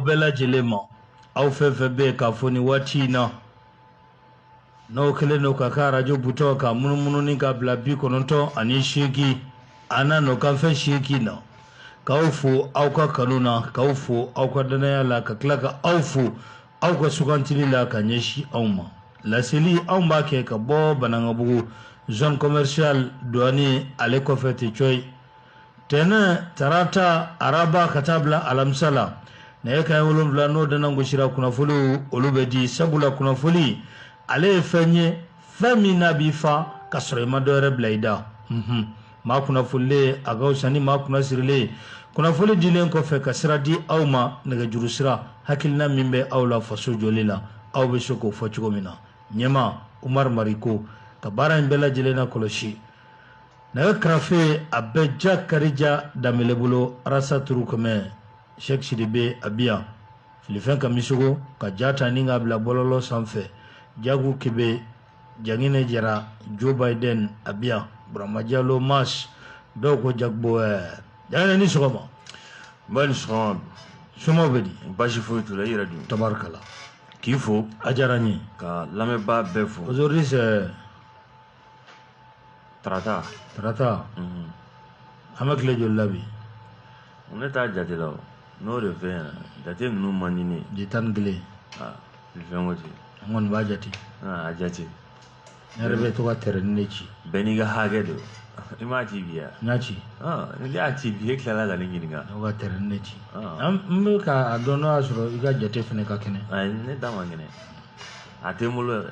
bɛɛ lajɛlen ma aw fɛn fɛn bɛ yen k'a fɔ nin waati in na n'o kɛlen don k'a ka arajo butɔn ka munumunu ni ka bila bi kɔnɔntɔn ani seegin a n'a nɔ kanfɛ seegin na k'aw fo aw ka kanu na k'aw fo aw ka danaya la ka tila ka aw fo aw ka sugantili la ka ɲɛsin anw ma laseli anw b'a kɛ ka bɔ banankabugu zone commercial douane ale kɔfɛ tɛ cɔyi tɛnɛn tarata araba ka taa bila alamisa la nɛgɛ kaɲɛ wolonwula n'o dannan gosira kunnafoliw olu bɛ di sabula kunnafoli ale ye fɛn ye fɛn min n'a b'i fa ka sɔrɔ i ma dɔwɛrɛ bila i da mhm. maa kunnafolilen a ka fisa ni maa kunna sirilen kunnafoli dilen kɔfɛ ka sira di aw ma nɛgɛjuru sira hakilina min bɛ aw la faso jɔli la aw bɛ se k'o fɔ cogo min na ɲɛma umaru mariko ka baara in bɛɛ lajɛlen nakɔlɔsi nɛgɛ karafe a bɛ jakarija danbele bolo arasa turu kɔmɛ sɛki sidibe a bi yan filifin kamisɔkɔ ka ja ta ni k'a bila bɔlɔlɔ sanfɛ jagu kebe jangine jara joe biden a bi yan burama jalo mas dɔw ko jagbo ɛɛ jangine ni sɔgɔma nba i ni sɔgɔma somaw bɛ di baasi foyi t'u la i yɛrɛ dun tabarikala k'i fo a diyara n ye ka lamɛnbaa bɛɛ fo aujourd'hui c'est tarata tarata mhm. an bɛ tile joli la bi ne t'a jate la o n'o de fɛ yen jate ninnu man di ne ye tile tan ni kelen ah, fɛn ko ten an kɔni b'a jate ah, a jate ne yɛrɛ bɛ to ka tɛrɛnin de ci bɛɛ n'i ka hakɛ don i m'a ci bi ya n y'a ci ah, n'i y'a ci bi e tilala ka ne ɲininka ne ka tɛrɛnin de ci n bɛ k'a dɔn n'o y'a sɔrɔ i ka jate fana ka kɛnɛ ayi ne ta man kɛnɛ a tɛ n bolo yɛrɛ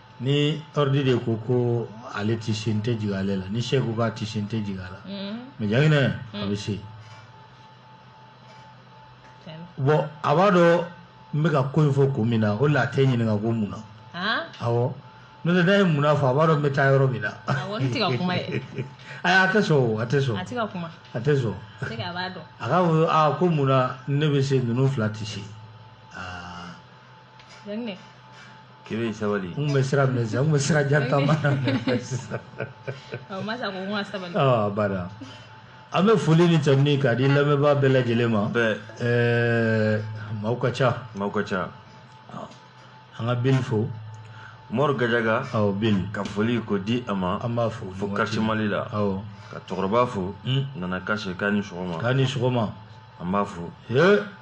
ni ordi de ko ko ale tɛ se n tɛ jigi ale la ni seku k'a tɛ se n tɛ jigi a la mɛ jangine a bɛ se bɔn a b'a dɔn n bɛka ko in fɔ ko min na o la a tɛ n ɲininka ko mun na aw ne tɛ da ye mun fɔ a b'a dɔn n bɛ taa yɔrɔ min na a a tɛ sɔn a tɛ sɔn a tɛ sɔn a ka fɔ ko mun ne bɛ se ninnu fila tɛ se Kebe sabali n bɛ sira minɛ sisan n bɛ sira jan taama sisan ba an bɛ foli ni tanuni k'a di lamɛnbaa bɛɛ lajɛlen ma ɛɛ maaw ka ca maaw ka ca an ka bin fo mori gajaga aw bin ka foli k'o di a ma an b'a fo fo quartier mali la aw ka cɛkɔrɔba fo nana kasi k'a ni sɔgɔma k'a ni sɔgɔma an b'a fo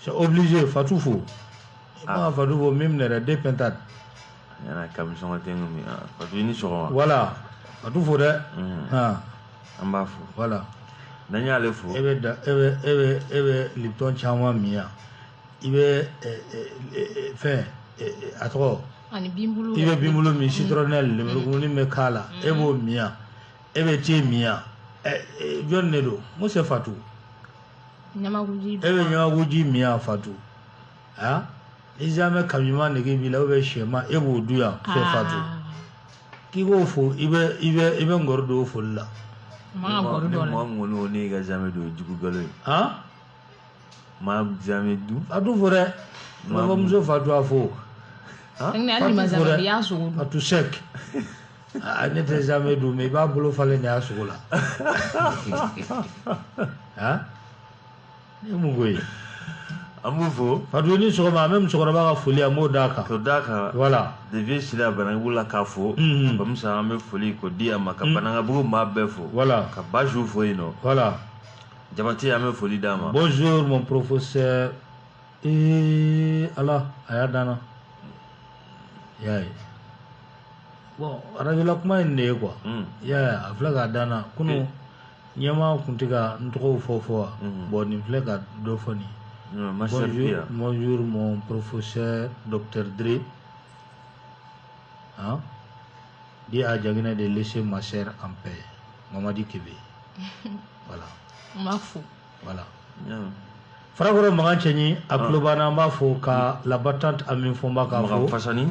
c'est obligé fatu fo ah fatu fo même ne yɛrɛ de pintade yana kami sɔngɔ tɛ ŋa min fatu i ni sɔgɔma voilà fatu fo dɛ an b'a fo voilà n'an y'ale fo e bɛ da e bɛ e bɛ e bɛ lipton caman min yan i bɛ fɛn a tɔgɔ ani binbulu i bɛ binbulu min citronnelle mm. lemurukumuni bɛ k'a la e mm. b'o min yan e bɛ te min yan jɔni de don mun c'est fatu e bɛ ɲamakuji min yan fatu a i zamɛ kamima nege b'i la ou bien sɛma e b'o dun yan c'est fatu k'i b'o fo i bɛ i bɛ i bɛ ngɔri don foli la maa ŋɔni ne ka zamɛ don jugu galo ye maa zamɛ dun fatu fo dɛ mɔgɔmuso fatu a fo fatu sɛk Ah, ne tɛ zamɛ dun mais i b'a bolo falen de y'a sogo la ah? ne ye mun ko ye an b'u fo fatu i ni sɔgɔma an bɛ musokɔrɔba ka foli an b'o d'a kan k'o d'a kan voilà de vieux sila banangabugu la k'a fo mhm. bamusa an bɛ foli k'o di a ma ka mhm. banangabugu maa bɛɛ fo voilà ka basiru fo yen nɔ voilà jabate an bɛ foli d'a ma bonjour mon professeur ee ala a y'a danna y'a ye bon arajla kuma ye de ye kuwa a filɛ k'a danana kunun ɲɛma tun tɛ ka n tɔgɔ fɔ fɔ wa bɔn nin filɛ ka dɔ fɔ nin mɔnz mɔ porofosɛ dɔtɛdre di y'a jainɛ de se ma sera anp mamadi kɛmɛ bɛ wala voilà farakɔrɔ makan cɛɲi a ah. tulo b'an na an b'a fo ka la battante ami fɔnba k'a fo fasani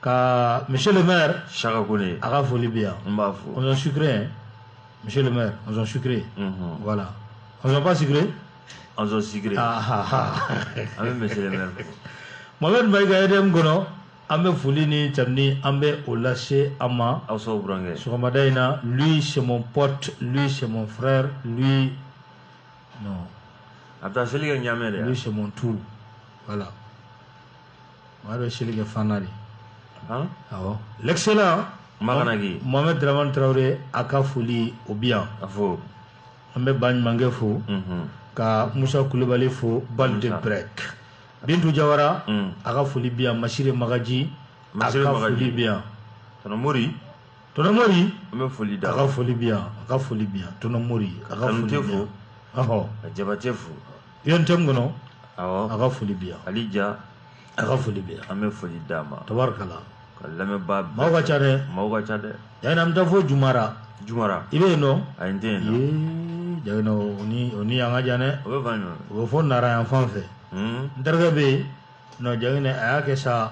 ka monsieur le maire shaka kone a ka foli bi yan n b'a fo on sont sucrés hein monsieur le maire on sont sucrés mhm. voilà on sont pas sucrés on sont sucrés ah ah ah an bɛ monsieur le maire fo mohamed mayiga EDM kɔnɔ An bɛ foli ni tanuni an bɛ o lase an ma aw son burankɛ sɔgɔmada in na lui c'est mon pote lui c'est mon frère lui a taa seli kɛ ɲamɛ de lui c'est mon tout voilà maa bɛ seli kɛ fana de l'excellent mohamed draman tarawele a ka foli o bi yan a fɔ an bɛ ba ɲumankɛ fo ka musa kulubali fo bal de brɛ bintu jawara mm. a ka foli bi yan masire magaji a ka foli bi yan tɔnɔ mori tɔnɔ mori an bɛ foli da a ka foli bi yan a ka foli bi yan tɔnɔ mori a ka foli bi yan ɔhɔ ka jabate fo yɔntɛm kɔnɔ awɔ a ka foli bi yan ali ja a ka foli bi yan an bɛ foli d'a ma tabarikala ka lamɛnbaa bɛɛ maaw ka ca dɛ maaw ka ca dɛ Jagine an bɛ taa fo jumara jumara i bɛ yen dɔn ayi n tɛ yen dɔn ee Jagine o ni o ni an ka jan dɛ o bɛ fan jumɛn o bɛ fɔ nara yan fan fɛ Hmm, n terikɛ bɛ yen nɔ Jagine a y'a kɛ sa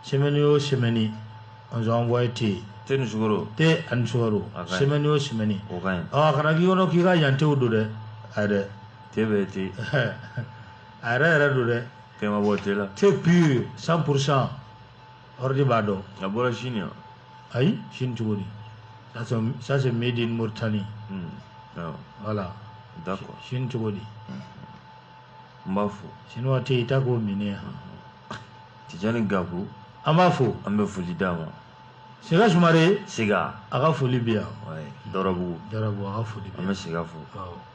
semɛni o semɛni an sɔn envoyé te te ni sukaro te ani sukaro A ka ɲi. semɛni o semɛni o ka ɲi ɔ a kana k'i kɔnɔ k'i ka yan tew don dɛ ayi dɛ te bɛ te a yɛrɛ yɛrɛ don dɛ fɛn ma bɔ te la te pure 100 pourcent Hordi b'a dɔn a bɔra sini yan ayi sini cogo di ça c'est made in Mauritanie hmm, voilà d'accord sini cogo di n b'a fɔ sinuwa tɛ yen i t'a k'o minɛ yan Tijani Gaku an b'a fo an bɛ foli d'a ma Sega Sumare Sega a ka foli bɛ yan Dɔrɔbugu Dɔrɔbugu a ka foli bɛ an bɛ Sega fo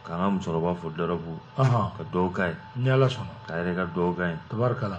k'an ka musokɔrɔba fo Dɔrɔbugu ka dugawu k'a ye ni Ala sɔnna k'a yɛrɛ ka dugawu k'a ye tabarikala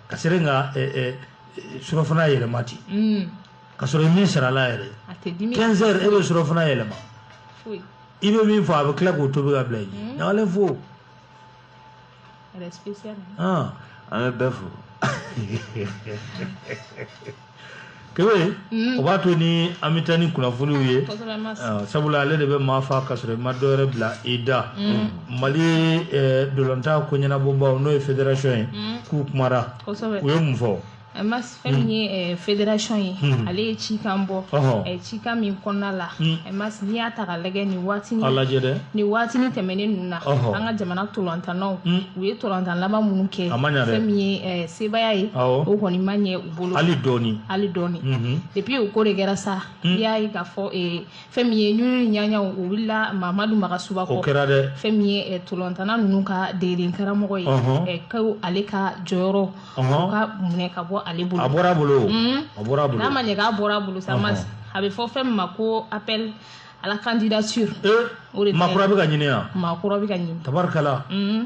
ka sere ka surɔfana yɛlɛma ten mm. ka sɔrɔ i min sarala yɛrɛ 15 heures e bɛ surɔfana yɛlɛma i bɛ min fɔ a bɛ tila k'o tobi ka bila i ɲɛ ɲagalen fo an bɛ bɛɛ fo kewe o b'a to ni an bɛ taa ni kunnafoniw ye sabula ale de bɛ maa fa ka sɔrɔ i ma dɔwɛrɛ bila i da mali ntolatan ko ɲɛnabɔbaw n'o ye federation ye k'u kumara u ye mun fɔ mas fɛn min ye federation ye ale ye cikan bɔ cikan min kɔnɔna la mas n'i y'a ta ka lajɛ nin waati nin waati tɛmɛnen ninnu na an ka jamana ntolatannaw u ye ntolatan laban minnu kɛ fɛn min ye sebaaya ye o kɔni ma ɲɛ bolo hali dɔɔni hali dɔɔni mhm. et puis o ko de kɛra sa hmm. i y'a ye k'a fɔ eh, fɛn min ye ɲuɲu ni ɲaɲaw o wulila mamadu magasuba kɔ o kɛra dɛ fɛn min ye eh, ntolatanna ninnu ka dege karamɔgɔ ye eh, ko ale ka jɔyɔrɔ o ka minɛ ka bɔ ale bolo a bɔra bolo hmm. a bɔra bolo n'a ma ɲɛ k'a bɔra bolo sa a bɛ fɔ fɛn min ma ko appel à la candidature maa kura bɛ ka ɲini yan maa kura bɛ ka ɲini tabarikala hmm.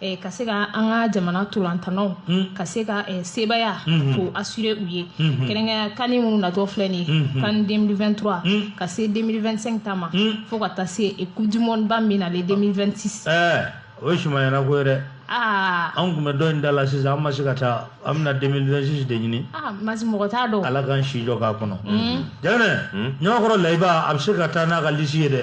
Eh, ka se ka an ka jamana ntolatannaw hmm. ka se ka eh, sebaaya hmm. ko assurer u ye hmm. kɛrɛnkɛrɛnya CAN minnu natɔ filɛ nin ye CAN 2023 ka se 2025 ta ma fo ka taa se eh, coupe du monde ba min nalen 2026 o ye sumayana ko ye dɛ ah. an kun bɛ dɔ in da la sisan an ma se ka taa an bɛna 2026 de ɲini ah, masi mɔgɔ t'a dɔn ala k'an si jɔ k'a kɔnɔ jɛnɛ ɲɔgɔnkɔrɔ layiba a bɛ se ka taa n'a ka lisi ye dɛ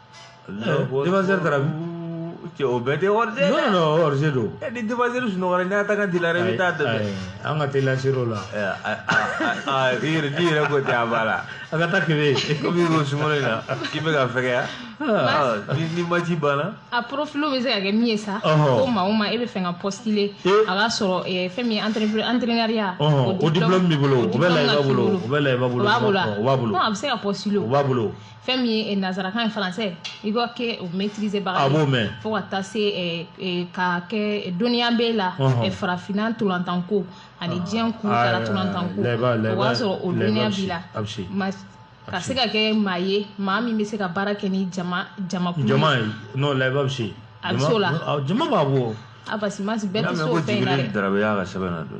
défenseur taara cɛ o bɛɛ tɛ wari tɛ non non wari tɛ don ɛ ni défenseur sunɔgɔra n'a ta ka dila yɛrɛ i bɛ taa dɛmɛ an ka teli lasiri o la i yɛrɛ n'i yɛrɛ ko tɛ a b'a la a ka taa kebe komi ko sunkalo in na k'i bɛ ka fɛgɛya ni ni match banna a profil bɛ se ka kɛ min ye sa ko maa o maa e b'a fɛ ka postuler a k'a sɔrɔ fɛn min ye anterenɛriya o diplɔmu b'i bolo o bɛ layiba bolo o bɛ layiba bolo o b'a bolo a bɛ se ka postuler o b'a bolo fɛn min ye nazarakan ye français i ka kɛ o maîtriser baga a b'o mɛn fo ka taa se ka kɛ dɔnniya b'e la farafinna ntolantanko ani diɲɛ kun taara ntolantanko o b'a sɔrɔ o dɔnniya b'i la ka se ka kɛ maa ye maa min bɛ se ka baara kɛ ni jama jamakulu jama ye non layiba bɛ se a bɛ se o la jama b'a bɔ a parce que bɛɛ tɛ se o fɛn in na dɛ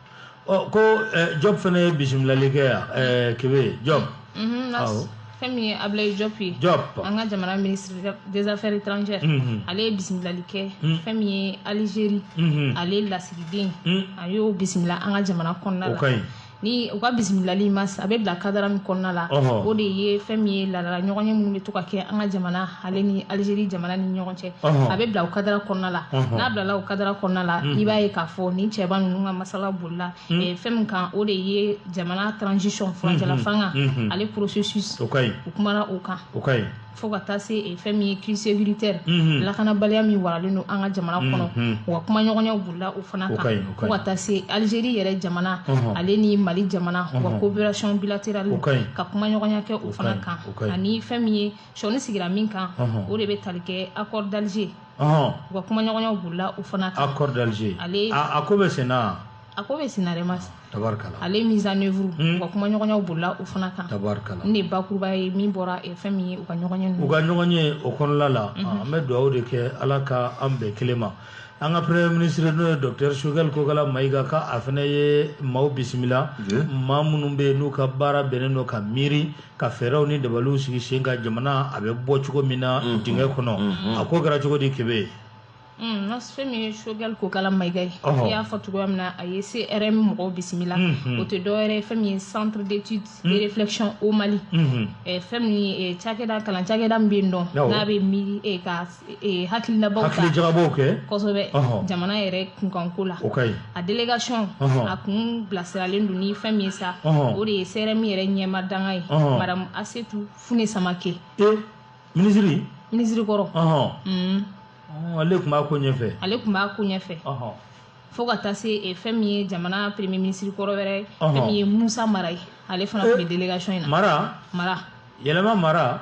ko jɔb fana ye bisimilali kɛ yan kebe jɔb fɛn min ye ablaye jɔp ye jɔp an ka jamana ministre des affaires étrangères ale ye bisimilali kɛ fɛn min ye algérie ale lasigiden a y'o bisimila an ka jamana kɔnɔna la ni u ka bisimilali mas a bɛ bila kadara min kɔnɔna la o de ye fɛn min ye laadala ɲɔgɔnye minnu bɛ to ka kɛ an ka jamana ale ni alizeri jamana ni ɲɔgɔn cɛ a bɛ bila o kadara kɔnɔna la n'a bilala o kadara kɔnɔna la i b'a ye k'a fɔ ni cɛba ninnu ka masala bolila fɛn min kan o de ye jamana transition furancɛlafanga ale processus u kumana o kan fo ka taa se fɛn min ye crise sécuritaire lakanabaliya min waralen don an ka jamana kɔnɔ u ka kumaɲɔgɔnyaw bolila o fana kan fo ka taa se alizeri yɛrɛ jamana ale ni mali jamana u ka coopération bilatérale ka kumaɲɔgɔnya kɛ o fana kan ani fɛn min ye sɔnin sigira min kan o de bɛ tali kɛ accord d'Alger u ka kumaɲɔgɔnyaw bolila o fana kan accord d'Alger a ko bɛ sen na a ko bɛ sen na dɛ mas tabarikala ale mise en œuvre u ka kumaɲɔgɔnyaw bolila o fana kan tabarikala nin de ye bakuruba ye min bɔra fɛn min ye u ka ɲɔgɔnye u ka ɲɔgɔnye o kɔnɔna la an bɛ dugawu de kɛ ala ka an bɛn kelen ma an ka premier ministre n'o ye docteur Choguel Kokala Mayiga k'a fana ye maaw bisimila maa minnu bɛ yen n'u ka baara bɛnnen don ka miiri ka fɛɛrɛw ni dabaliw sigi sen kan jamana a bɛ bɔ cogo min na mm-hmm. dingɛ kɔnɔ mm-hmm. a ko kɛra cogo di kebe mm, n ka fɛn min ye Choguel Kokala mayiga ye i y'a fɔ cogoya min na a ye cerm mɔgɔw bisimila mm-hmm. o tɛ dɔwɛrɛ ye fɛn min ye centre d'étude et de réflexion au mali eh, fɛn min ye eh, cakɛda kalan cakɛda min bɛ yen dɔn n'a bɛ miiri eh, ka ee hakilinabaw ta hakilijagabɔw kɛ kosɛbɛ Ɔhɔn. jamana yɛrɛ kunkanko la o ka ɲi a delegation Ɔhɔn. a kun bilasiralen don ni fɛn min ye sa Ɔhɔn. o de ye cerm yɛrɛ ɲɛmaa dankan ye Ɔhɔn. madame asetu fune samake e minisiri minisiri kɔrɔ ɔhɔn Mm. Ɔ, ale tun b'a ko ɲɛfɛ ale tun b'a ko ɲɛfɛ ɔhɔn fo ka taa se eh, fɛn min ye jamana premier minisiri kɔrɔ wɛrɛ Ɔhɔn. fɛn min ye musa mara ye ale fana tun bɛ delegation in na mara mara yɛlɛma mara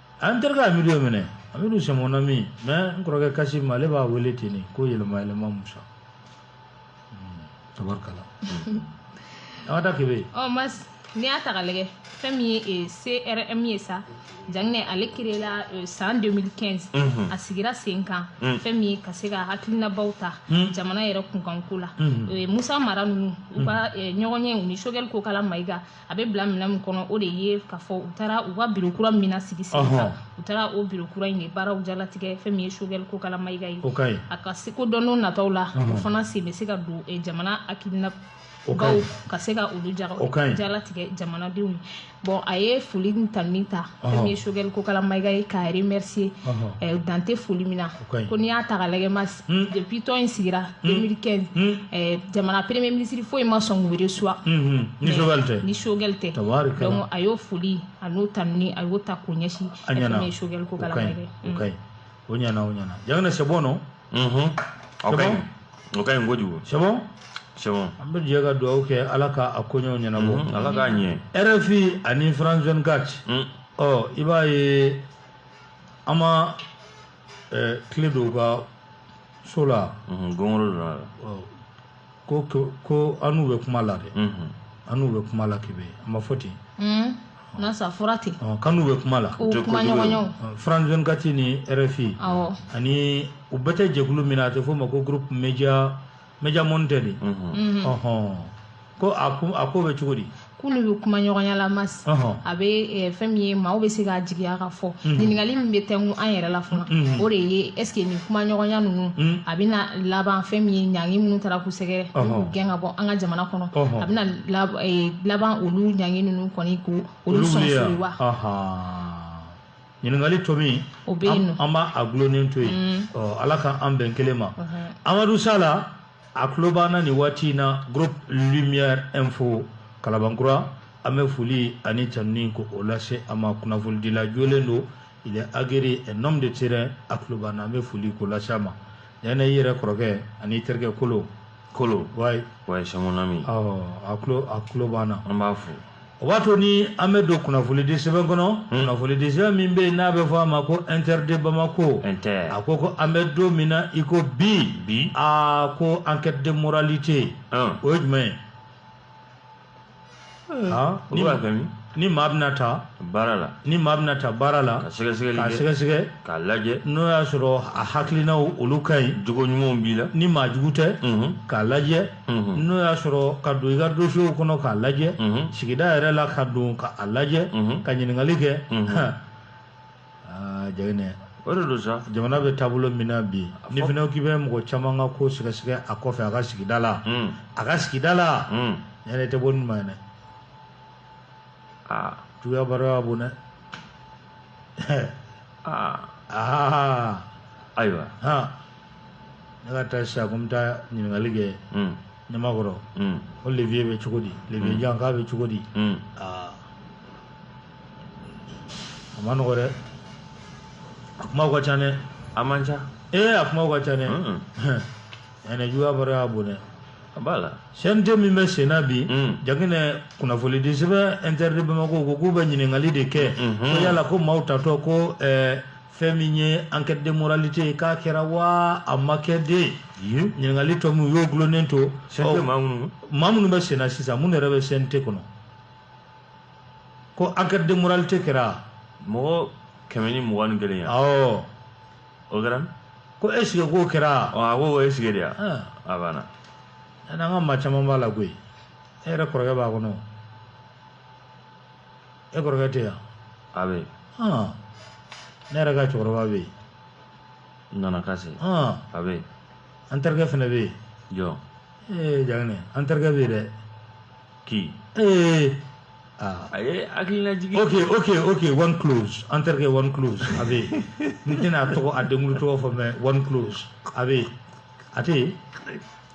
an terikɛ amidu ye minɛ amidu c'est mon ami mais n kɔrɔkɛ kasim ale b'a wele ten nin ko yɛlɛma yɛlɛma musa hmm, tabarikala an ka taa kebe ɔ mas n'i y'a ta ka lajɛ fɛn min ye eh, crm ye sa janginɛ ale créé la eh, san 2015 mhm. a sigira sen kan mhm. fɛn min ye ka se ka hakilinabaw ta mhm. jamana yɛrɛ kunkanko la eh, musa mara ninnu u ka ɲɔgɔn ye u ni choguel kokala mayiga a bɛ bila minɛn min kɔnɔ o de ye k'a fɔ u taara u ka biro kura min na sigi sen kan u taara o biro kura in de baaraw jalatigɛ fɛn min ye choguel kokala mayiga ye a ka se ko don nataw la o fana sen bɛ se ka don eh, jamana hakilinabaw ka se ka olu jalatigɛ jamanadenw ye bon a ye foli ta min ta fɛn min ye choguel kokala mayiga ye k'a remercier dan tɛ foli min na ko n'i y'a ta ka lajɛ mas depuis tɔn in sigira 2015 jamana premier ministre foyi ma sɔn k'u reçoit ni choguel tɛ donc a y'o foli a n'o tanuni a y'o ta k'o ɲɛsin fɛn min ye choguel kokala mayiga ye o ɲɛna o ɲɛna janginɛ c'est bon non Mhm. Ok. C'est bon? O ka ɲi kojugu. c'est bon C'est bon. an bɛ jɛ ka dugawu kɛ ala ka a koɲɛw ɲɛnabɔ Mhm. Ala k'a ɲɛ. rfi ani france 24 Mm. ɔ i b'a ye an ma eh, clé don u ka so la Mhm, gɔngɔrɔ donna a la. ɔ, ko ko an n'u bɛ kuma la dɛ an n'u bɛ kuma la kebe an m'a fɔ ten mas a fɔra ten k'an n'u bɛ kuma la kuma ɲɔgɔnyaw france 24 ni rfi ani u bɛɛ tɛ jɛkulu min na a tɛ f'o ma ko groupe média média monde tɛ de ɔɔn ko a ko a k'o bɛ cogo di k'olu bɛ kuma ɲɔgɔnya la mas a bɛ eh, fɛn min ye maaw bɛ se k'a jigiya k'a fɔ mhm. ɲininkali min bɛ tɛnku an yɛrɛ la fana mhm. o de ye est ce que nin kuma ɲɔgɔnya ninnu mhm. a bɛna laban fɛn min ye ɲangi minnu taara k'u sɛgɛrɛ k'u gɛn ka bɔ an ka jamana kɔnɔ a bɛna eh, laban olu ɲangi ninnu kɔni ko olu sɔn fili wa ɲininkali tɔ min an b'a a gulonnen to yen mm. ala ka an bɛn kelen ma amadu sala a tulo b'an na nin waati in na groupe lumière info kalabankura an bɛ foli ani tanuni ko o lase a ma kunnafolidila jolen don il est aguerri un homme de terrain a tulo b'an na an bɛ foli k'o lase a ma janginɛ i yɛrɛ kɔrɔkɛ ani terikɛ kolo kolo ouais ouais c'est mon ami awɔ a tulo a tulo b'an na an b'a fo o b'a to ni an bɛ don kunnafonidi sɛbɛn kɔnɔ hmm. kunnafonidi sɛbɛn min bɛ yen n'a bɛ fɔ a ma ko inter de bamako a ko ko an bɛ don min na i ko bi bi a ko enquête de moralité hmm. o ye jumɛn ye hmm. ah, n'i b'a fɛ ni maa bɛna ta baara la ni maa bɛna ta baara la ka sɛgɛsɛgɛli kɛ k'a sɛgɛsɛgɛ k'a lajɛ n'o y'a sɔrɔ a hakilinaw olu ka ɲi jogo ɲumanw b'i la ni maa jugu tɛ k'a lajɛ n'o y'a sɔrɔ ka don i ka dosiyew kɔnɔ k'a lajɛ sigida yɛrɛ la ka don ka a lajɛ ka ɲininkali kɛ Jaginɛ o de don sa jamana bɛ taabolo min na bi ni fana k'i bɛ mɔgɔ caman ka ko sɛgɛsɛgɛ a kɔfɛ a ka sigida la a ka sigida la ne tɛ bɔ ma dɛ aa tuya baara bon dɛ aa aa ayiwa ne ka taa sisan ko n bɛ taa ɲininkali kɛ ɲamakɔrɔ ko Levieux bɛ cogo di Levieux jan k'a bɛ cogo di aa a ma nɔgɔ dɛ a kumaw ka ca dɛ a man ca ee a kumaw ka ca dɛ ɛnɛ juguya baro y'a bon dɛ a b'a la CNT min bɛ sen na bi Jaginɛ kunnafonidi sɛbɛn Inter de Bamako ko k'u bɛ ɲininkali de kɛ ko yala ko maaw tatɔ ko ɛɛ fɛn min ye enquête de moralité k'a kɛra wa a ma kɛ dɛ ɲininkali tɔ min u y'o gulonnen to maa minnu bɛ senna sisan minnu yɛrɛ bɛ CNT kɔnɔ ko enquête de moralité kɛra mɔgɔ kɛmɛ ni mugan ni kelen ye awɔ o kɛra ko est-ce que k'o kɛra a ko o est-ce que de ya a banna an ka maa caman b'a la koyi e yɛrɛ kɔrɔkɛ b'a kɔnɔ e kɔrɔkɛ tɛ yan a bɛ ne yɛrɛ ka cɛkɔrɔba bɛ yen Nana Kase a bɛ an terikɛ fana bɛ yen jɔn ee jaginɛ an terikɛ bɛ yen dɛ k'i ee a ye hakili lajigin ok ok ok one close an terikɛ one close a bɛ yen n tɛna a tɔgɔ a denkulu tɔgɔ fɔ mais one close a bɛ yen a tɛ yen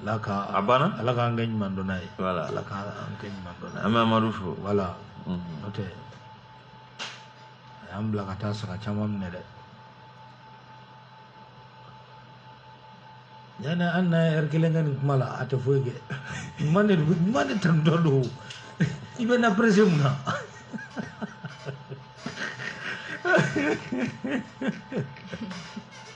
ala ka a banna ala k'an kɛ ɲuman dɔnna ye voilà ala k'an kɛ ɲuman dɔnna ye an bɛ amadu fo voilà mhm. n'o tɛ a y'an bila ka taa saga caman minɛ dɛ yani an na heure kelen kɛ nin kuma la a tɛ foyi kɛ ɲuman de ɲuman de taatɔ don i bɛ na pressé mun na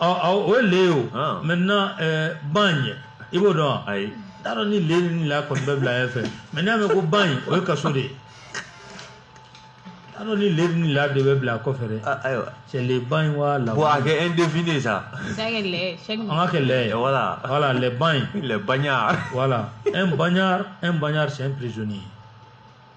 o ye le ye o ah. maintenant euh, bagne i b'o dɔn wa ayi n t'a dɔn ni le ni la kɔni bɛ bila ɲɛfɛ mais n'i y'a mɛn ko bagne o ye kaso de ye n t'a dɔn ni le ni la de bɛ bila kɔfɛ dɛ ah, ayiwa c'est le bagne voilà bon a kɛ indéfini sa an k'a kɛ le ye voilà voilà le bagne le bagnard voilà un bagnard un bagnard c'est un prisonnier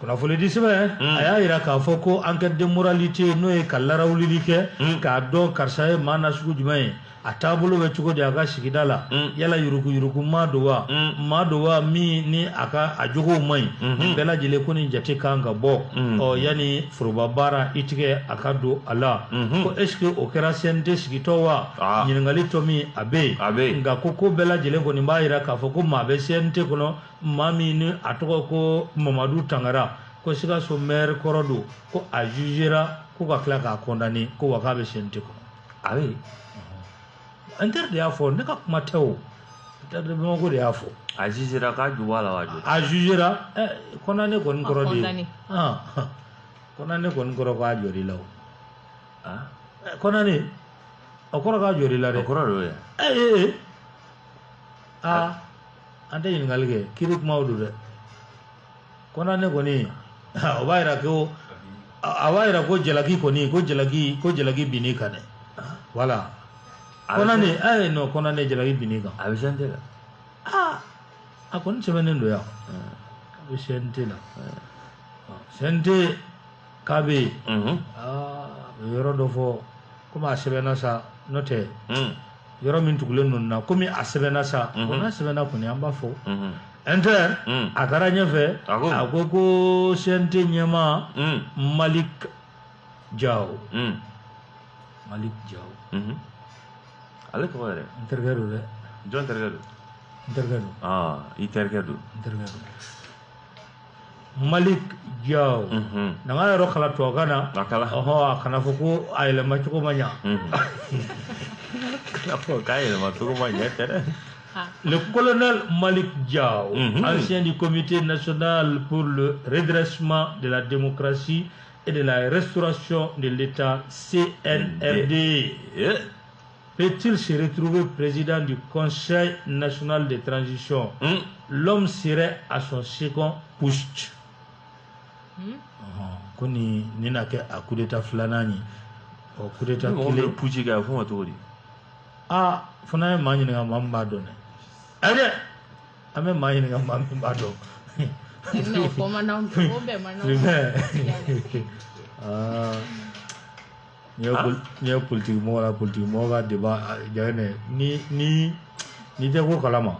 kunnafonidi sɛbɛn hmm. a y'a jira k'a fɔ ko enquête de moralité n'o ye ka larawulili kɛ hmm. k'a dɔn karisa ye maa nasugu jumɛn ye a taabolo bɛ cogo di a ka sigida la hmm. yala yuruguyurugu maa don wa maa don wa min ni a ka a jogow man ɲi nin bɛɛ lajɛlen ko nin jate kan ka bɔ ɔ yanni foroba baara i tigɛ a ka don a la ko esike o kɛra CNT sigitɔ wa ah. ɲininkali tomi a bɛ yen nka ko ko bɛɛ lajɛlen kɔni b'a jira k'a fɔ ko maa bɛ CNT kɔnɔ maa min ni a tɔgɔ ko mamadu tangara ko sikaso mɛri kɔrɔ don ko a jugera ko ka tila k'a condamné ko wa k'a bɛ CNT kɔnɔ a bɛ Inter de y'a fɔ ne ka kuma tɛ o Inter de bamakɔ de y'a fɔ a jugera k'a ju b'a la wa a jugera condamné kɔni kɔrɔ de ye condamné kɔni kɔrɔ k'a jɔr'i la o condamné a kɔrɔ k'a jɔr'i la dɛ kɔrɔ d'o ye ee aa an tɛ ɲininkali kɛ kiri kumaw don dɛ condamné kɔni o b'a jira ko a b'a jira ko jalaki kɔni ko jalaki ko jalaki binn'i kan dɛ wala condamné a ye non condamné jalaki binn'i kan a bɛ CNT la aa a kɔni sɛbɛnnen don yan a bɛ CNT la CNT k'a bɛ yen aa a bɛ yɔrɔ dɔ fɔ komi a sɛbɛnna sa n'o tɛ yɔrɔ min tugulen ninnu na komi a sɛbɛnna sa mhm. ko n'a sɛbɛnna kɔni an b'a fɔ mhm. Inter mhm. a taara ɲɛfɛ a ko ko CNT ɲɛmaa malik jaw malik jaw ale tɔgɔ yɛrɛ n terikɛ don dɛ jɔn terikɛ don n terikɛ don ah, i terikɛ don n terikɛ don malik jaw n'an ka yɔrɔ kalan tubabukan na a kalan ɔhɔ a kana fɔ ko a yɛlɛma cogo ma ɲa kana fɔ k'a yɛlɛma cogo ma ɲa tɛ dɛ le colonel Malik Diaw, mm -hmm. ancien du Comité national pour le redressement de la démocratie et de la restauration de l'État CNRD. Yeah. Peut-il se retrouver président du Conseil national de transition hmm? L'homme serait à son second putsch. Hmm? Ah, ko ni nin na kɛ a kudeta filanan ye ɔ kudeta kelen putsch kɛ a fɔ ma cogo di aa fo n'an ye maa ɲininka maa min b'a dɔn dɛ ɛ dɛ an bɛ maa ɲininka maa min b'a dɔn o bɛɛ man aa n'i ye politiki mɔgɔ la politiki mɔgɔ ka deba jaabi ne ni ni n'i tɛ ko kalama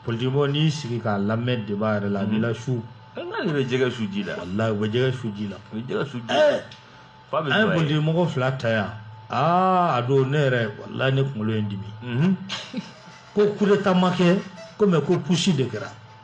politiki mɔgɔ n'i sigi k'a lamɛn deba yɛrɛ la a b'i la su n'ale bɛ jɛgɛ su ji la walayi u bɛ jɛgɛ su ji la u bɛ jɛgɛ su ji la f'a bɛ an ye politiki mɔgɔ fila ta yan aa a don ne yɛrɛ walayi ne kunkolo ye n dimi ko kudeta ma kɛ ko mɛ ko putsch de kɛra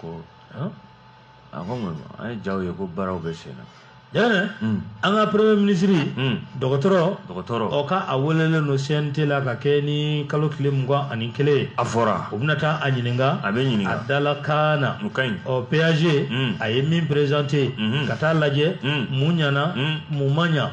ko a ko mun an ye jaw ye ko baaraw bɛ sen na Yana an ka premier minisiri dɔgɔtɔrɔ dɔgɔtɔrɔ ɔ ka a welelen don CNT la ka kɛ ni kalo tile mugan ani kelen ye a fɔra u bɛna taa a ɲininka a bɛ ɲininka a dalakan na o ka ɲi ɔ PAG a ye min présenter ka taa lajɛ mun ɲana mun ma ɲa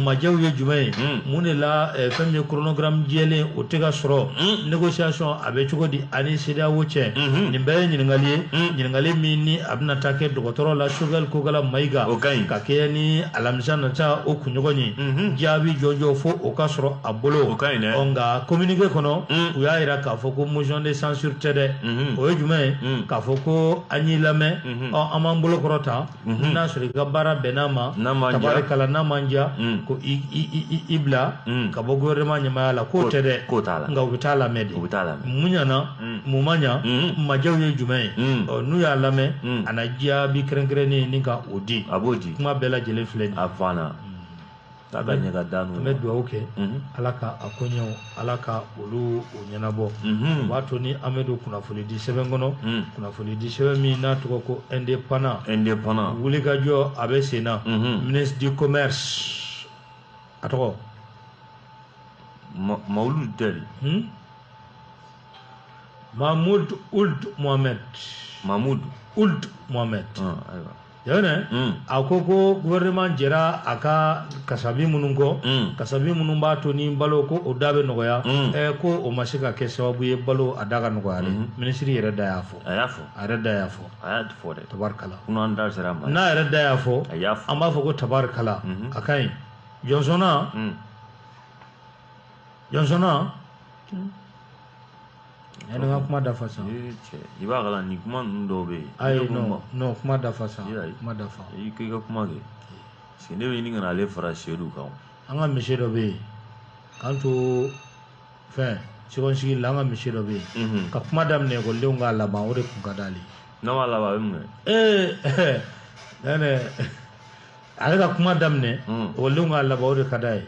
maɲaw ye jumɛn ye mun de la fɛn min ye chronogramme jɛlen o tɛ ka sɔrɔ négociation a bɛ cogo di ani CEDEAO cɛ mhm. nin bɛɛ ye ɲininkali ye mhm. ɲininkali min ni a bɛna taa kɛ dɔgɔtɔrɔ la Choguel Kokalla Maïga o ka ɲi ka kɛɲɛ ni alamisa nata o kunɲɔgɔn ye mhm. jaabi jɔnjɔn fo o ka sɔrɔ a bolo o ka ɲi dɛ ɔ nka communiqué kɔnɔ u y'a jira k'a fɔ ko motion de censure tɛ dɛ o ye jumɛn ye k'a fɔ ko an y'i lamɛn ɔ an b'an bolo kɔrɔta mhm. n'a sɔrɔ i ka baara bɛnn'an ma tabarikala n'a ma ɲa mm. ko i bila mm. ka bɔ gouvernement ɲɛmaaya la k'o tɛ dɛ nka u bɛ taa a lamɛn de mun ɲana mm. mun ma ɲa maɲaw ye jumɛn ye n'u y'a lamɛn a na jaabi kɛrɛnkɛrɛnnen ni ka o di kuma bɛɛ lajɛlen filɛ nin ye K'a da ɲɛ ka da n'o ye. An bɛ duwawu kɛ. Unhun. Ala ka a koɲɛw, Ala ka olu o ɲɛnabɔ. Unhun. O b'a to ni an bɛ don kunnafoni di sɛbɛn kɔnɔ. Un. Kunnafoni di sɛbɛn min n'a tɔgɔ ko indépendant. Indépendant. Wulikajɔ a bɛ sen na. Unhun. Ministre du commerce a tɔgɔ. Ma Mawulu tɛ dɛ. Hun. Mahmoud Ould Mohamed. Mahmoud. Ould Mohamed. Ɔn ayiwa. Yana a ko ko gouvernement jɛra a ka kasabi minnu kɔ kasabi minnu b'a to ni balo ko o da bɛ nɔgɔya ɛɛ ko o ma se ka kɛ sababu ye balo a da ka nɔgɔya dɛ minisiri yɛrɛ da y'a fɔ a y'a fɔ a yɛrɛ da y'a fɔ a y'a fɔ dɛ tabarikala ko n'an da sera a ma n'a yɛrɛ da y'a fɔ a y'a fɔ an b'a fɔ ko tabarikala a ka ɲi jɔnsɔnna jɔnsɔnna Yana i ka kuma dafa sa i b'a kalan ni kuma ninnu dɔw bɛ yen ayi n'o kuma dafa sa kuma dafa i k'i ka kuma kɛ parce que ne bɛ ɲini ka ale fara Seyidu kan an ka monsieur dɔ bɛ yen k'an to fɛn second cycle la an ka monsieur dɔ bɛ yen ka kuma daminɛ ekɔlidenw k'a laban o de tun ka d'ale n'a ma laban a bɛ mun ee ne ale ka kuma daminɛ ekɔlidenw k'a laban o de ka d'a ye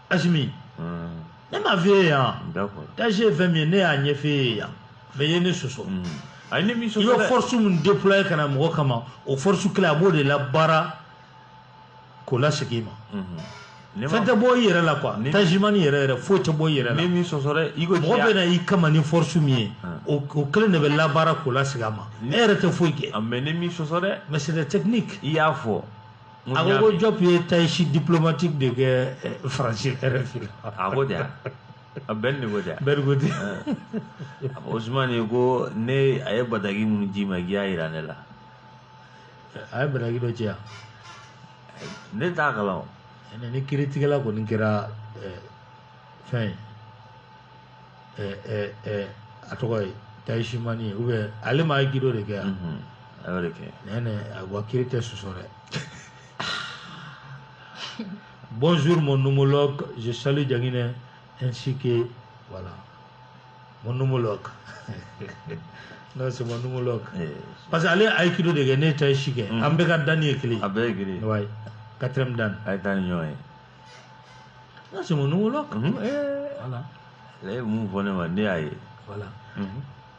Asimi ne m'a f'e ye yan taichi ye fɛn min ye ne y'a ɲɛf'e ye yan mais e ye ne sɔsɔ i bɛ force min déployer ka na mɔgɔ kama o force kelen a b'o de labaara k'o lasegin i ma fɛn tɛ bɔ i yɛrɛ la quoi taichiman yɛrɛ yɛrɛ foyi tɛ bɔ i yɛrɛ la mɔgɔ bɛ na i kama ni force min ye o kelen de bɛ labaara k'o lasegin a ma e yɛrɛ tɛ foyi kɛ mais c'est des techniques i y'a fɔ a ko ko jɔp ye tayisi diplomatique de kɛ faransi RFI a ko ja a bɛn de ko ja bɛri ko ten a ko osumani ye ko ne a ye bataki minnu ji ma k'i y'a jira ne la a ye bataki dɔ ci ne t'a kalan ni kiritigɛla kɔni kɛra fɛn ye a tɔgɔ ye tayisimani ye oubien ale ma aikido de kɛ yan a y'o de kɛ nɛnɛ a wa kiri tɛ sɔsɔ dɛ bonjour mon homologue je salue Diaguinɛ ainsi que voilà mon homologue non c'est mon homologue eh, parce que ale ye aikido de kɛ ne ye tayisi kɛ an bɛɛ ka dan ye kelen a bɛɛ ye kelen ouais quatrième dan a ye taa ni ɲɔgɔn ye n ka c'est mon homologue voilà ale ye mun fɔ ne ma ne y'a ye voilà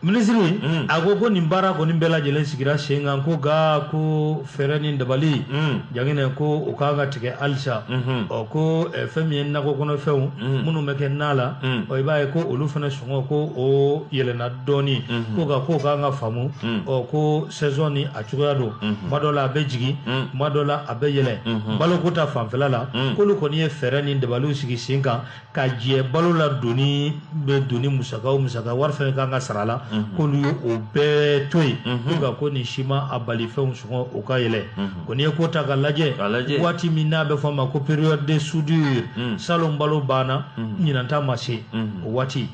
minisiri a ko ko nin baara kɔni bɛɛ lajɛlen sigira sen kan ko nka ko fɛɛrɛ ni dabali jaginɛ ko o ka kan ka tigɛ halisa ɔ ko fɛn min ye nakɔ kɔnɔfɛnw minnu bɛ kɛ na la ɔ i b'a ye ko olu fana sɔngɔ ko o yɛlɛnna dɔɔnin ko nka k'o ka kan ka faamu ɔ ko sɛzɔn ni a cogoya don tuma dɔ la a bɛ jigin tuma dɔ la a bɛ yɛlɛ baloko ta fanfɛla la k'olu kɔni ye fɛɛrɛ ni dabaliw sigi sen kan ka jɛ balo la doni bɛ doni musaka o musaka wari fɛn ka kan ka sara a la k'olu ye o bɛɛ to yen ko nka ko nin si ma a bali fɛnw sɔngɔ o ka yɛlɛ ko n'i ye ko ta ka lajɛ waati min na a bɛ fɔ a ma ko période de soudure salon balo banna ɲinan ta ma se o waati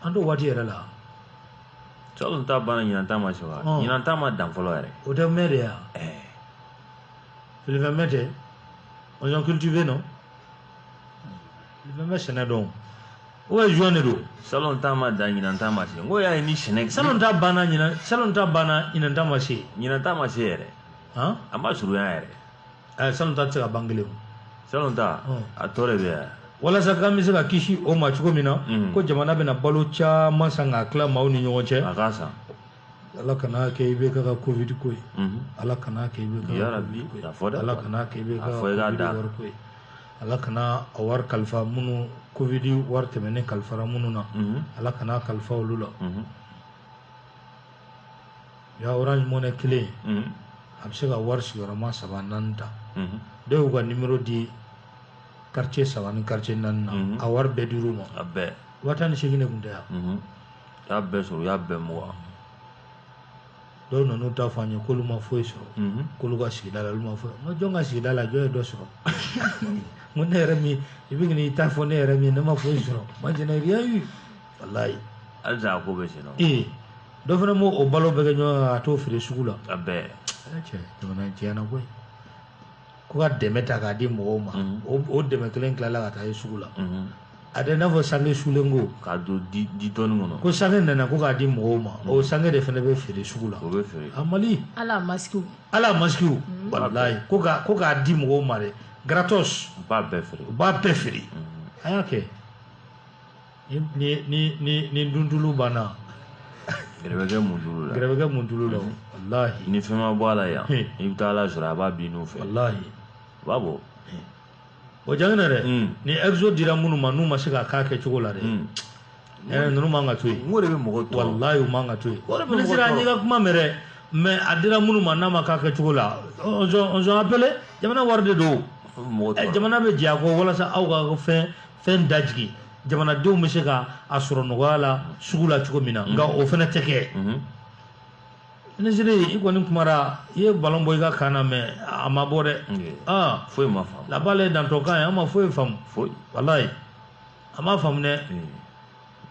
an t'o waati yɛrɛ la Salon ta banna ɲinan ta ma se wa ɲinan ta ma dan fɔlɔ yɛrɛ o tɛ mɛn de yan fifɛn mɛn tɛ on cultive non bɛ sɛnɛ dɔn o ye juin de don salon ta ma dan ɲinan ta ma se ko y'a ye ni sɛnɛ salon ta banna salon ta banna ɲinan ta ma se ɲinan ta ma se yɛrɛ a ma surunya yɛrɛ eh, salon ta tɛ se ka ban kelen salon ta hmm. a tɔ de bɛ yan walasa k'an bɛ se ka kisi o ma cogo min na hmm. ko jamana bɛna balo caman san k'a tila maaw ni ɲɔgɔn cɛ a k'a san ala kana kɛ IBK ka covid ko ye mhm. ala kana kɛ IBK ka covid ko ye ala kana kɛ IBK covid wari ko ye ala kana a wari kalifa minnu covid wari tɛmɛnen kalifara minnu na mhm. ala kana kalifa olu la mhm. Ya orange money kelen in, unhun, a bɛ se ka wari sigiyɔrɔma saba naani ta, unhun, dɔ y'u ka numéro di quartier saba ni quartier naani na, unhun, a wari bɛɛ dir'u ma, a bɛɛ, waa tan ni seegin de tun tɛ wa, unhun, u y'a bɛɛ sɔrɔ, u y'a bɛɛ mugan, dɔw nan'u ta fɔ an ye k'olu ma foyi sɔrɔ, unhun, k'olu ka sigida la olu ma foyi, n ko jɔn ka sigida la jɔn ye dɔ sɔrɔ, n ko ne yɛrɛ min i bɛ k'i ta fɔ ne yɛrɛ min ye ne ma foyi sɔrɔ, moi je n'ai rien eu walayi halisa a ko bɛ sen na ee dɔ fana m'o o balo bɛɛ kɛ ɲɔgɔn kan ka t'o feere sugu la a bɛɛ cɛ jamana in tiɲɛna koyi ko ka dɛmɛ ta k'a di mɔgɔw ma o dɛmɛ kelen tilala ka taa ye sugu la a tɛna fɔ sange sulen ko k'a don di di dɔɔni kɔnɔ ko sange nana ko k'a di mɔgɔw ma o sange de fana bɛ feere sugu la o bɛ feere a mali ala masikiw ala masikiw walayi ko ka ko k'a di mɔgɔw ma dɛ gratos u b'a bɛɛ feere u b'a bɛɛ feere a y'a kɛ ni duntulu banna gɛrɛ bɛ kɛ muntulu la gɛrɛ bɛ kɛ muntulu la walahi ni fɛn ma bɔ a la yan i bɛ taa ala sɔrɔ a b'a bin n'u fɛ walahi a b'a bɔ o jangin na dɛ ni exo dira minnu ma n'u ma se k'a k'a kɛcogo la dɛ ɛɛ ninnu man ka to yen o de bɛ mɔgɔ tɔɔrɔ walahi u man ka to yen minisiri an y'i ka kuma mɛn dɛ mɛ a dira minnu ma n'a ma k'a kɛcogo la on zɔn appelé jamana wari de don jamana bɛ jɛ a kɔ walasa aw ka fɛn fɛn dajigi jamanadenw bɛ se ka a sɔrɔ nɔgɔya la sugu la cogo min na nka o fana tɛ kɛ minisiri i kɔni kumara i ye balon bɔ i ka camp na mɛ a ma bɔ dɛ aa foyi ma faamu la balle dans ton camp ye an ma foyi faamu foyi walayi a ma faamu dɛ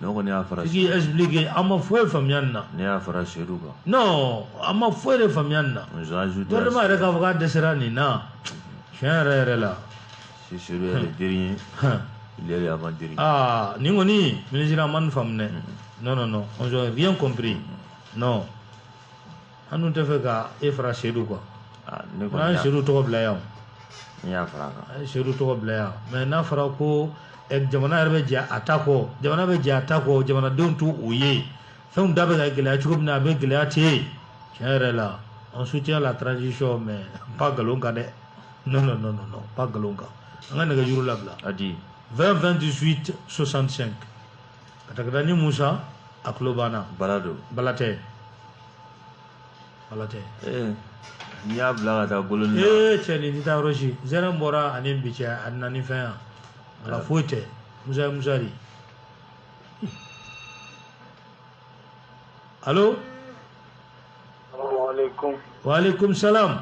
ne kɔni y'a fara k'i expliquer an ma foyi faamuya nin na ne y'a fara seyidu kan non an ma foyi de faamuya nin na gouvernement yɛrɛ k'a fɔ k'a dɛsɛra nin na tiɲɛ yɛrɛ yɛrɛ la si seyidu est le dernier il est avant dernier aa nin kɔni minisiri an ma nin faamu dɛ non non non on n'a rien compris non an dun t'a fɛ ka e fara sedu kan ah, n'an ye sedu tɔgɔ bila yan an ye sedu tɔgɔ bila yan mɛ n'a fɔra ko eh, jamana yɛrɛ bɛ jɛ a ta kɔ jamana bɛ jɛ a ta kɔ jamanadenw t'o ye fɛnw da bɛ ka gɛlɛya cogo min na a bɛ gɛlɛya ten tiɲɛ yɛrɛ la on soutient la transition mɛ pas nkalon kan dɛ non non non non pas nkalon kan an ka nɛgɛjuru labila 20 28 65 ka taa ka taa ni musa a tulo banna bala don bala tɛ ala tɛ eh, n'i y'a bila ka taa bolo ni ee eh, cɛ nin tɛ taa yɔrɔ si zɛrɛn bɔra ani bi cɛ a nana ni fɛn yan ala foyi tɛ musa ye musa de alo waaleykum salam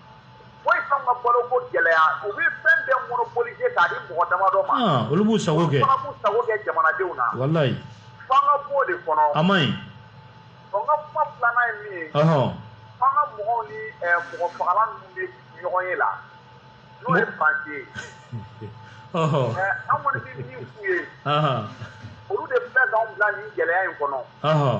foyi t'anw ka baloko gɛlɛya u bɛ fɛn bɛɛ monopoliser k'a di mɔgɔ damadɔ ma. Ah, olu b'u sago kɛ. olu fana b'u sago kɛ jamanadenw na. walayi. f'an ka b'o de kɔnɔ. a man ɲi. ɔ n ka kuma filanan ye min ye. ɔhɔn. fanga mɔgɔw ni ɛɛ mɔgɔfagala ninnu bɛ ɲɔgɔnye la. n'o ye Fransi ye. ɔhɔn. ɛɛ an kɔni bɛ min f'u ye. olu de filɛ k'anw bila nin gɛlɛya in kɔnɔ. ɔhɔn.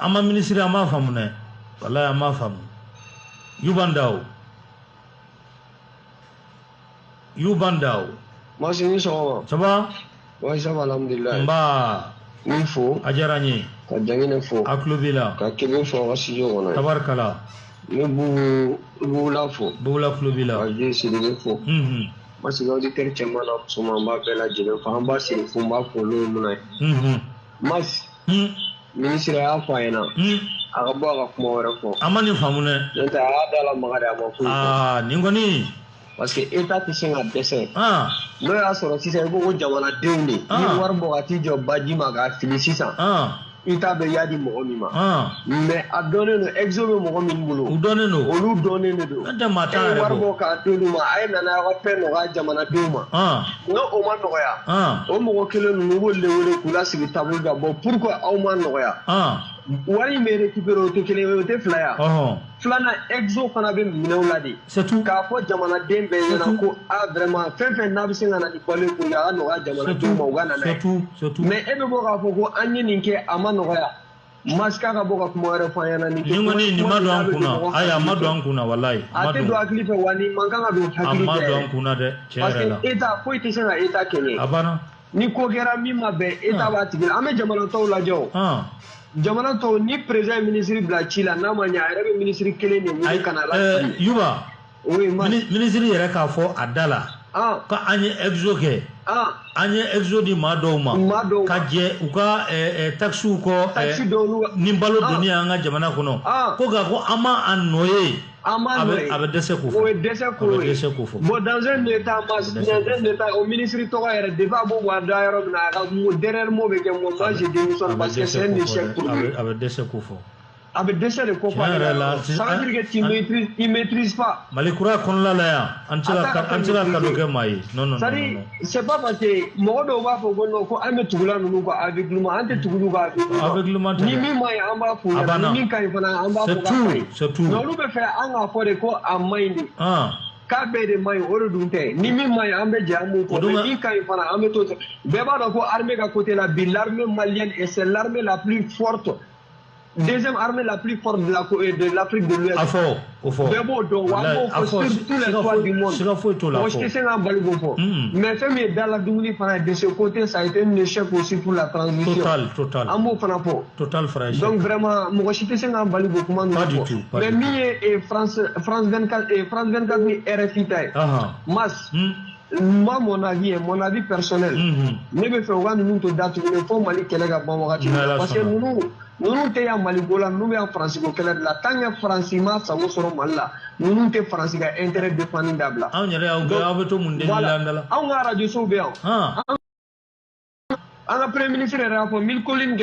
an ma minisiri an m'a faamu dɛ walayi an m'a faamu Yuba Ndaw Yuba Ndaw Masi i ni sɔgɔma ça va oui ça va alhamdulilayi nba n fo a diyara n ye ka jangene fo a tulo b'i la ka kebe fo ka studio kɔnɔ tabarikala ne bugu bugula fo bugula tulo b'i la ka je Sidibe fo parce que auditeur cɛman na musoman b'a bɛɛ lajɛlen fo an b'a siri fo n b'a fo n'o ye mun na ye Masi minisiri y'a fɔ an ɲɛna a ka bɔ a ka kuma wɛrɛ fɔ an ma nin faamu dɛ n'o tɛ a y'a da lamaga de a ma foyi fɔ aa nin kɔni parce que Etat tɛ se ka dɛsɛ aa n'o y'a sɔrɔ sisan i ko ko jamanadenw de Ah. ni wari bɔ ka t'i jɔ baji ma k'a fili sisan aa i t'a dɔn i y'a di mɔgɔ min ma aa mais a dɔnnen don exo bɛ mɔgɔ min bolo u dɔnnen don olu dɔnnen de don N'o tɛ maa t'a e ye yɛrɛ wari bɔ. bɔ k'a d'olu ma a ye nana aw ka fɛn nɔgɔya jamanadenw ma aa n'o o ma nɔgɔya o mɔgɔ kelen ninnu i b'olu de wele k'u lasigi tabulu kan bon pourquoi aw m'a nɔgɔya wari in bɛ récupérer o tɛ kelen ye o tɛ fila ye filanan exo fana bɛ minɛ u la de k'a fɔ jamanaden bɛɛ ɲɛna ko a vraiment fɛn fɛn n'a bɛ se ka na ni balo ye pour que a ka nɔgɔya jamanadenw ma u ka na n'a ye mais e bɛ bɔ k'a fɔ ko an ye nin kɛ a ma nɔgɔya Mas k'a ka bɔ ka kuma wɛrɛ fɔ an ɲɛna. Nin kɔni nin ma don an kunna ayi a ma don an kunna walayi. A tɛ don hakili fɛ wa nin man kan ka don hakili fɛ. A ma don an kunna dɛ tiɲɛ yɛrɛ la. Parce que Etat foyi tɛ se ka Etat kɛɲɛ. A banna. Ni ko kɛra min ma bɛn Etat b'a tigi la an bɛ jamana tɔw lajɛ o. Jamana tɔw ni président ye ministre bila ci la n'a ma ɲɛ a yɛrɛ bɛ ministre kelen de wele ka na a lasigi. Ayi ɛɛ Yuba. minisiri yɛrɛ k'a fɔ a da la ko an ye exo kɛ an ye exo di maa dɔw ma ka jɛ u ka takisiw kɔ ni balo don an ka jamana kɔnɔ ko nka ko an ma a nɔ ye a bɛ dɛsɛ kofɔ dɛsɛ ko dɛsɛ kofɔ bon dans un état o minisiri tɔgɔ yɛrɛ depuis a b'o bɔ a da yɔrɔ min a ka dernier mot bɛ kɛ moi je démissionne parce que c'est un échec pour lui a bɛ dɛsɛ kofɔ a bɛ dɛsɛ de kofɔ ale la ça veut dire que tu maîtrises il maîtrise pas Mali kura kɔnɔna la yan an tɛ se ka an tɛ se ka cadeau kɛ maa ye non non c'est à dire c'est pas parce que mɔgɔ dɔw b'a fɔ ko non ko an bɛ tugula ninnu kɔ aveuglément an tɛ tugu olu kɔ aveuglément ni min man ɲi an b'a f'u ɲɛna ni min ka ɲi fana an b'a fɔ k'a ka ɲi c'est tout mais olu b'a fɛ an k'a fɔ de ko a man ɲi de k'a bɛɛ de man ɲi o de dun tɛ ni min man ɲi an bɛ jɛ an b'o fɔ min ka ɲi fana an bɛ to bɛɛ b'a dɔn ko armée ka côté la bi l'armée malienne est c'est l'armée la plus forte deuxième armée la plus forte de l'Afrique de, l'Afrique de l'Ouest. A fɔ, o fɔ. Bɛɛ b'o dɔn wa an b'o fɔ sur tous les toits du monde. Siga foyi t'o la. Mɔgɔ si tɛ se k'an bali k'o fɔ. Mais fɛn min ye dala dumuni fana ye de ce côté ça a été un échec aussi pour la transition. Total, total. An b'o fana fɔ. Total fana échec. Donc vraiment mɔgɔ si tɛ se k'an bali k'o kuma ninnu fɔ. Pas du tout. Mais min ye France France 24 France 24 ni RFI ta ye. Mas. Moi, mon avis, mon avis personnel, mhm. ne b'a fɛ u ka ninnu to datugulen fo Mali kɛlɛ ka ban wagati la parce que ninnu ninnu tɛ yan Maliko la ninnu bɛ yan Faransi ko kɛlɛ de la tant que Faransi m'a sago sɔrɔ Mali la ninnu tɛ Faransi ka intérêt défendre dabila. Anw yɛrɛ y'aw gɛn aw bɛ to mun de la an da la. Anw ka arajo sow bɛ yan. An ka premier ministre yɛrɛ y'a fɔ mille collines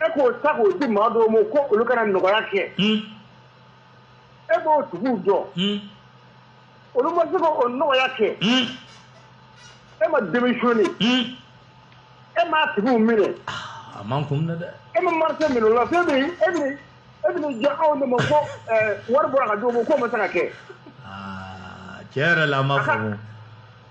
E k'o ta k'o di maa dɔw ma ko olu ka na nɔgɔya kɛ e b'o tigiw dɔn olu ma se k'o nɔgɔya kɛ e ma démissionné e m'a tigiw minɛ a man kun dɛ e ma marché minɛ o la fɛn min e e bɛ jɛ anw de ma ko wari bɔra ka di o ma ko o ma se ka kɛ tiɲɛ yɛrɛ la ma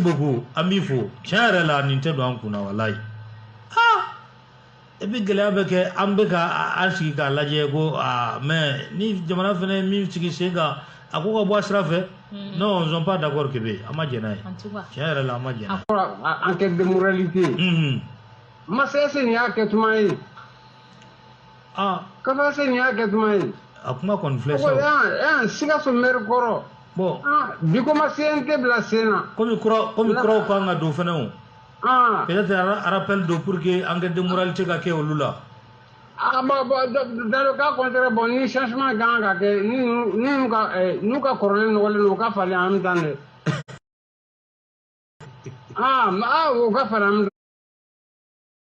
beaucoup an b'i fo tiɲɛ yɛrɛ la nin tɛ don an kunna walayi et puis gɛlɛya bɛ kɛ an bɛ ka an sigi k'a lajɛ ko aa mais ni jamana fana ye min sigi sen kan a ko ka bɔ a sira fɛ nous ne sommes pas d'accord Kebe an ma jɛn n'a ye tiɲɛ yɛrɛ la an ma jɛn n'a ye enquête de moralité Masa est-ce nin y'a kɛ tuma ye Ah. Kafa est-ce nin y'a kɛ tuma ye. A kuma kɔni filɛ sa. Ɛɛ sikaso mɛri kɔrɔ. Bon. Ah, bi ko ma CNT bila sen na. Komi kura komi kuraw kan ka don fɛnɛ o. Ah. Peut-être un rappel don pour que enquête de moralité ka kɛ olu la. Ah bon bon dans le cas contraire bon ni changement kan ka kɛ ni ni ka eh, n'u ka kɔrɔlen nɔgɔlen don u ka falen en même temps dɛ. Ah, ah, u ka falen en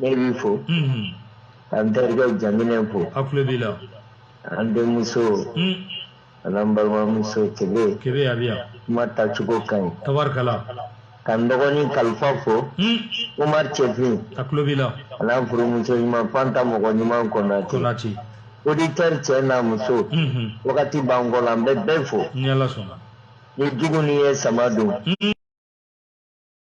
Ne b'i fo k'an terikɛ Janginɛ fo a tulo b'i la an denmuso a n'an balimamuso tile kebe a bɛ yan kuma ta cogo ka ɲi tabarikala k'an dɔgɔnin kalifa fo Umar Cɛfin a tulo b'i la a n'a furumuso ɲuman fanta mɔgɔ ɲuman Konate Konate auditeur cɛ n'a muso wagati b'an kɔ la an bɛ bɛɛ fo ni Ala sɔnna ni jugu ni ye sama don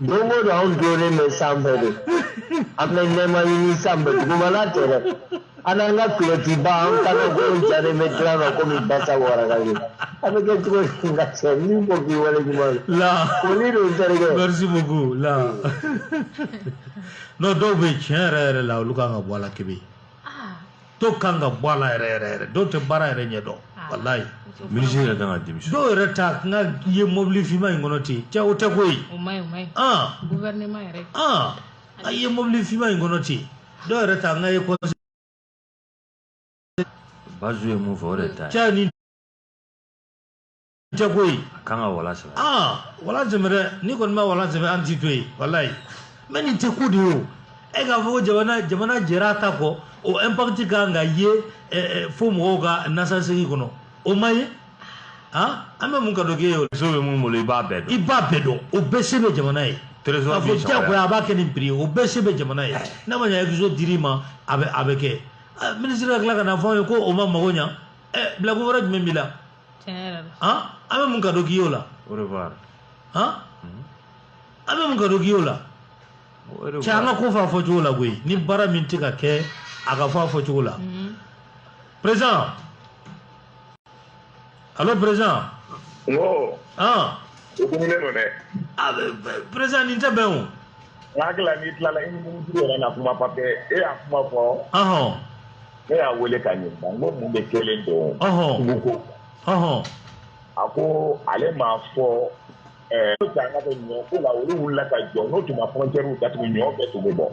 Don go don an donnen bɛ sanfɛ de an bɛ nɛɛma ɲini sanfɛ dugumana tɛ dɛ an n'an ka kulɔtiba an kana ko jalen bɛ dilan na komi basa waraka ye an bɛ kɛ cogo di ka cɛ min ko k'i wale ɲuman ye la foli don terikɛ merci beaucoup la non dɔw bɛ yen tiɲɛ yɛrɛ yɛrɛ la olu kan ka bɔ a la kebe dɔw kan ka bɔ a la yɛrɛ yɛrɛ yɛrɛ dɔw tɛ baara yɛrɛ ɲɛ dɔn ah. walayi minisiri yɛrɛ kan ka démission dɔw yɛrɛ ta n ka ye mɔbili finma in kɔnɔ ten cɛ o tɛ ko ye a ye mɔbili finma in kɔnɔ ten dɔw yɛrɛ ta n ka ye kɔnɔ bazu ye mun fɔ o de ta cɛ ni tɛ ko ye a kan ka wala sɛbɛn aa wala sɛbɛn dɛ n'i kɔni ma wala sɛbɛn an t'i to yen walayi mais nin tɛ ko de ye o e k'a fɔ ko jamana jamana jɛra a ta kɔ o impact ka kan ka ye fo mɔgɔw ka nasasegi kɔnɔ o ma ye han an bɛ mun ka dɔ k'e ye o so bɛ min bolo i b'a bɛɛ dɔn i b'a bɛɛ dɔn o bɛɛ se bɛ jamana ye trésor k'a fɔ diyagoya a b'a kɛ nin prix ye o bɛɛ se bɛ jamana ye n'a ma ɲɛ exo dir'i ma a bɛ a bɛ kɛ minisiri ka tila ka n'a fɔ an ye ko o ma mago ɲa ɛ bilakun wɛrɛ jumɛn b'i la an bɛ mun ka dɔ k'i y'o la an bɛ mun ka dɔ k'i y'o la cɛ an ka ko fɔ a fɔcogo la koyi ni baara min tɛ ka kɛ a ka fɔ a fɔcogo la président allô président président nin tɛ bɛn o n hakili la n'i tilala i ni minisiri yɛrɛ na kuma parce que e y'a kuma fɔ ne y'a wele ka ɲininka n ko mun de kɛlen don suguko a ko ale m'a fɔ eh, ko an ka kɛ ɲɔ ko la olu wulila ka jɔ n'o tun ma frontière datugu ɲɔ bɛɛ tun bɛ bɔ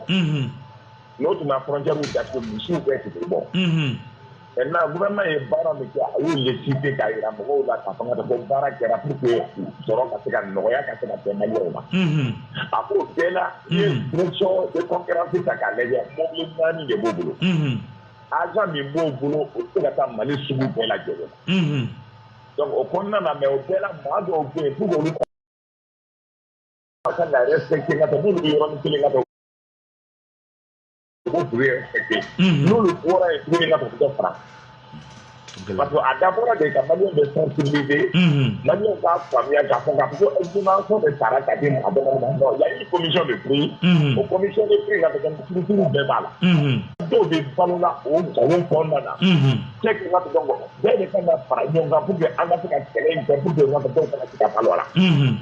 n'o tun ma frontière datugu misiw bɛɛ tun bɛ bɔ maintenant gouvernement ye baara min kɛ a y'olu citer k'a jira mɔgɔw la k'a fɔ ko baara kɛra pour que sɔrɔ ka se ka nɔgɔya ka se ka kɛ maliyɛnw ma a k'o bɛɛ la I ye direction de concurrence ta k'a lajɛ mobili naani de b'o bolo agent min b'o bolo o tɛ se ka taa Mali sugu bɛɛ lajɛlen na donc o kɔnɔna na mais o bɛɛ la maa dɔw bɛ yen pour que olu ka kan ka respecter ka tɛmɛ n'olu bɛ yɔrɔnin kelen ka tɛmɛ o b'u respecter mhm. n'olu bɔra yen tuguni ka dugu fara parce que a dabɔra de ka maliyɛn bɛɛ sensibiliser maliyɛn k'a faamuya k'a fɔ k'a fɔ ko information de sara ka di maa dɔgɔnin ma non y'a une commission de prix o commission de prix ka kɛ structure bɛɛ b'a la dɔw bɛ balo la o nkalon kɔnɔna na cɛ k'i k'a dɔn ko an bɛɛ de kan ka fara ɲɔgɔn kan pour que an ka se ka kɛlɛ in kɛ pour que an ka dɔw kana se ka balo a la